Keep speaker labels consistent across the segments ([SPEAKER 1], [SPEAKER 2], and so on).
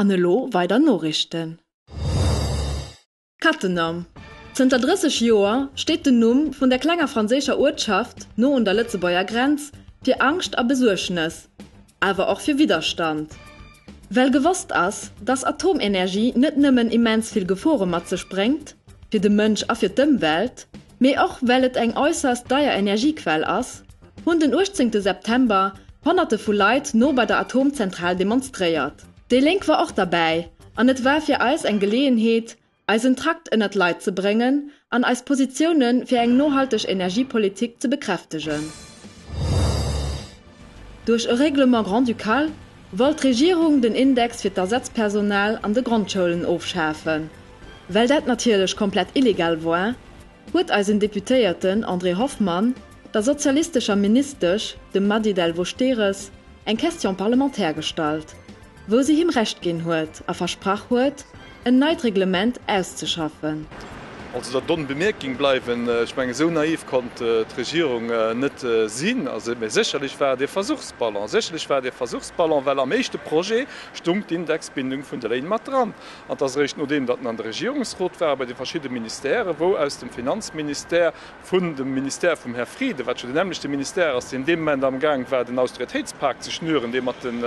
[SPEAKER 1] An elo weider Norichten. Cattenom, Zënter 30 Joer steet den Numm vun der klenger franséischer Uertschaft no un der Lëtzebuerger Grenz fir Angscht a Besuergnes, awer och fir Widderstand. Well gewosst ass, datt Atomenergie net nëmmen immens vill Gefore mat sech bréngt, fir de Mënsch a fir d'Ëmwelt, Mee och well et eng äusserst deier Energiequell ass, hunn den 18 September Honnerte vu Leit no bei der Atomzentral demonstréiert. Déi Lénk war och derbäi an et war fir eis eng Geleeënheet, eisen Trakt ënnert d'Leit ze bréngen an eis Positioune fir eng nohalteg Energiepolitik ze bekräftegen. Duerch e Règlement grand-ducal Wëll d'Regierung den Index fir d'Ersatzpersonal an de Grondschoulen ofschafen? Well dat natierlech komplett illegal war, huet eisen Deputéierten André Hoffmann der sozialistescher Ministesch, dem Mady Delvaux-Stehres, eng Question parlementaire gestallt, wou si him Recht ginn huet a versprach huet, en neit Reglement auszeschaffen. Also der
[SPEAKER 2] donne Bemerking bleiwen. Ech mengen, esou naiv konnt d'Regierung net sinn. Mee sécherlech war et ee Versuchsballon. Sécherlech war et ee Versuchsballon, well am éischte Projet stoung d'Indexbindung vun de Léin mat dran. An et ass eréischt nodeem, datt en an de Regierungsrot war, bei de verschidde Ministèrë wou aus dem Finanzministère, vun dem Ministère vum Här Frieden, wat jo deen nämmlechte Ministère ass, deen dee Moment amgaang war den Austeritéitspak ze schnüren, dee mat den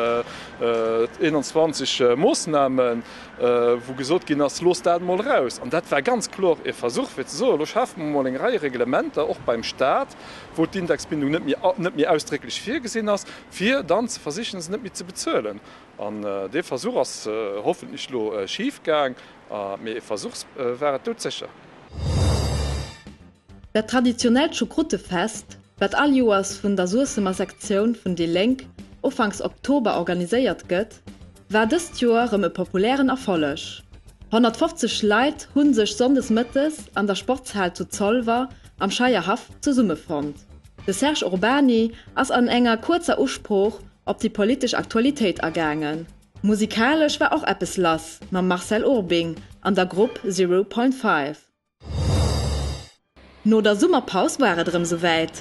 [SPEAKER 2] 21 Moossnamen, wou gesot ginn ass, Loosst dat emol eraus. An dat war ganz kloer e Versuch, fir ze soen, Elo schafe mer emol eng Rei Reglementer, och beim Stat, wou d'Indexbindung net méi ausdrécklech virgesinn ass, fir dann ze versichen, se net méi ze bezuelen. An dee Versuch ass hoffentlech elo schif gaang, mee e Versuch war et doudsécher.
[SPEAKER 1] Dat traditionellt Choucroute-Fest, wat all Joers vun der Suessemer Sektioun vun déi Lénk Ufanks Oktober organiséiert gëtt, war dëst Joer rëm e populären Erfolleg. 150 Leit hu sech sonndes mëttes an der Sportshal zu Zolwer am Scheierhaff zesummefonnt. De Serge Urbany ass an enger kuerzer Usprooch op déi politesch Aktualitéit agaangen. Musikalesch war och eppes lass mam Marcel Urbing an der Grupp Zero Point Five. No der Summerpaus war et erëm souwäit.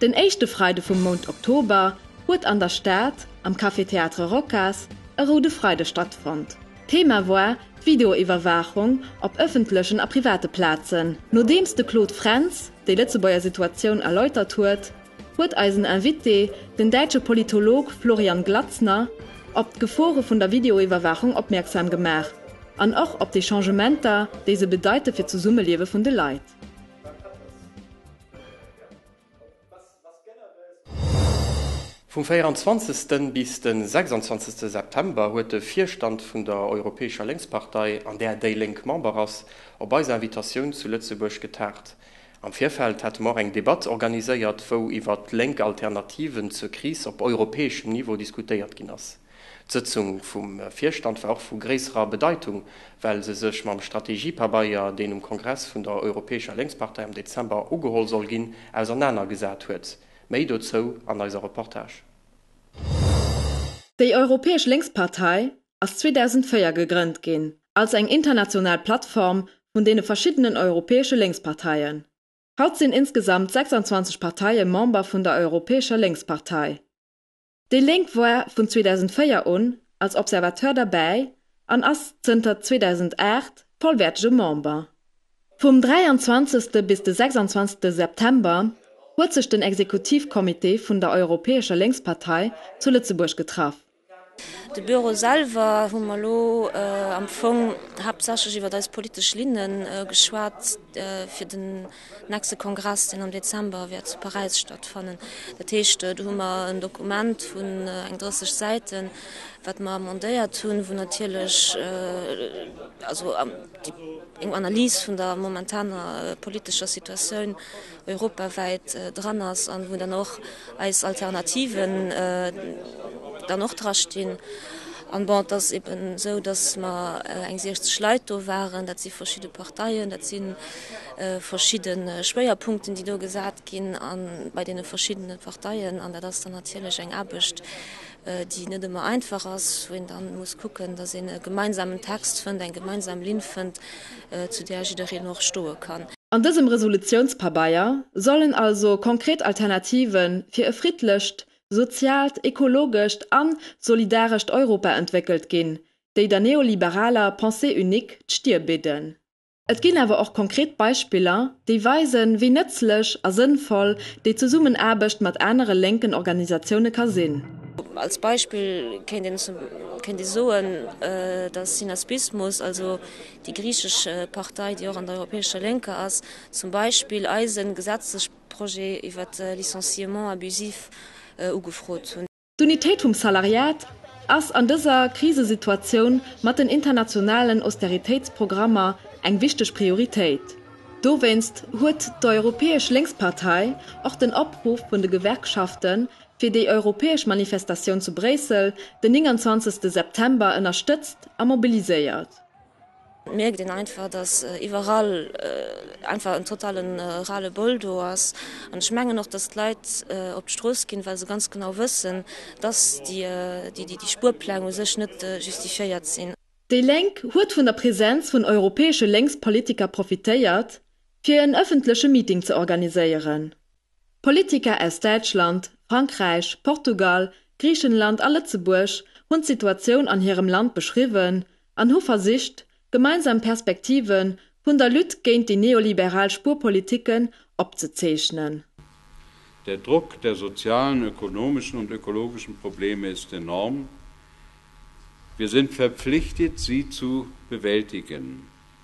[SPEAKER 1] Den éischte Freide vum Mount Oktober huet an der Stad am Café Théâtre Rocas e Roude Freide stattfonnt. Thema war d'Videoiwwerwaachung op ëffentlechen a private Plazen. Nodeems de Claude Frentz déi Lëtzebuerger Situatioun erläutert huet, huet eisen Invité, den däitsche Politolog Florian Glazner, op d'Gefore vun der Videoiwwerwaachung opmierksam gemaach an och op déi Changementer, déi se bedeite fir d'Zesummeliewe vun de Leit.
[SPEAKER 3] Vum 24. bis de 26. September huet de Virstand vun der Europäescher Lénkspartei, an där déi Lénk Member ass, op eis Invitatioun zu Lëtzebuerg getagt. Am Virfeld hate mer och eng Debatt organiséiert, wou iwwer lénk Alternativen zur Kris op europäeschem Niveau diskutéiert ginn ass. D'Sëtzung vum Virstand war och vu gréisserer Bedeitung, well se sech mam Strategiepabeier, deen um Kongress vun der Europäescher Lénkspartei am Dezember ugeholl soll ginn, ausernaner gesat huet. Méi dozou an eiser Reportage.
[SPEAKER 1] Déi Europäesch Lénkspartei ass 2004 gegrënnt ginn als eng international Plattform vun deene verschiddenen europäesche Lénksparteien. Haut sinn insgesamt 26 Parteie Member vun der Europäescher Lénkspartei. Déi Lénk war vun 2004 un als Observateur derbäi an ass zënter 2008 vollwäertege Member. Vum 23. bis de 26. September huet sech den Exekutivcomité vun der Europäescher Lénkspartei zu Lëtzebuerg getraff. De
[SPEAKER 4] Bureau selwer hu mer elo am Fong haaptsächlech iwwert eis politesch Linne geschwat fir den nächste Kongress, deen am Dezember wäert zu Paräis stattfannen. Dat heescht, do hu mer en Dokument vun eng 30 Säiten, wat mer amendéiert hunn, wou natierlech eng Analys vun der momentaner politescher Situatioun europawäit dran ass an wou dann och eis Alternativen dann och dra stinn. An bon, et ass eeben esou, datt mer eng 60 Leit do waren, dat si verschidde Parteien, dat si verschidde Schwéierpunkten, déi do gesat ginn bei deene verschiddene Parteien an dat ass dann natierlech eng Aarbecht, déi net ëmmer einfach ass, wou een da muss kucken, dass een e gemeinsamen Text fënnt, eng gemeinsam Linn fënnt, zu där jiddereen och stoe kann. An dësem
[SPEAKER 1] Resolutionspabeier sollen also konkret Alternative fir e friddlecht, soziaalt, ekologescht a solidarescht Europa entwéckelt ginn, déi der neoliberaler Pensée unique d'Stir bidden. Et ginn awer och konkret Beispiller, déi weisen, wéi nëtzlech a sënnvoll déi Zesummenaarbecht mat anere lénken Organisatioune ka sinn. Als Beispill
[SPEAKER 4] kéint ee soen, datt Synaspismus, also déi griichesch Partei, déi och an der Europäescher Lénker ass, zum Beispill eise Gesetzesprojet iwwert Licenciement abusif ugefrot hunn. D'Unitéit vum
[SPEAKER 1] Salariat ass an dëser Krisesituatioun mat den internationalen Austeritéitsprogrammer eng wichteg Prioritéit. Dowéinst huet d'Europäesch Lénkspartei och den Opruff vun de Gewerkschafte fir déi europäesch Manifestatioun zu Bréissel den 29 September ënnerstëtzt a mobiliséiert. Et
[SPEAKER 4] mierkt een einfach, datt iwwerall einfach en totale Ras-le-bol do ass. An ech mengen och, datt d'Leit op d'Strooss ginn, well se ganz genau wëssen, datt déi Spuerpläng u sech net justifiéiert sinn. Déi Lénk huet
[SPEAKER 1] vun der Presenz vun europäesche Lénkspolitiker profitéiert, fir en ëffentleche Meeting ze organiséieren. Politiker aus Däitschland, Frankräich, Portugal, Griichenland a Lëtzebuerg hunn d'Situatioun an hirem Land beschriwwen an hu versicht, gemeinsam Perspektive vun der Lutte géint déi neoliberal Spuerpolitiken opzezeechnen.
[SPEAKER 5] Der Druck der sozialen, ökonomischen und ökologischen Probleme ist enorm. Wir sind verpflichtet, sie zu bewältigen.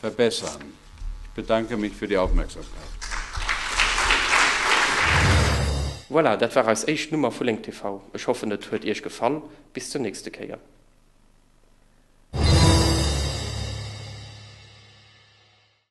[SPEAKER 5] Verbessern. Ich bedanke mich für die Aufmerksamkeit.
[SPEAKER 3] Voilà, dat war eis éischt Nummer vu Lénk TV. Ech hoffen et huet Iech gefall. Bis zur nächste Kéier.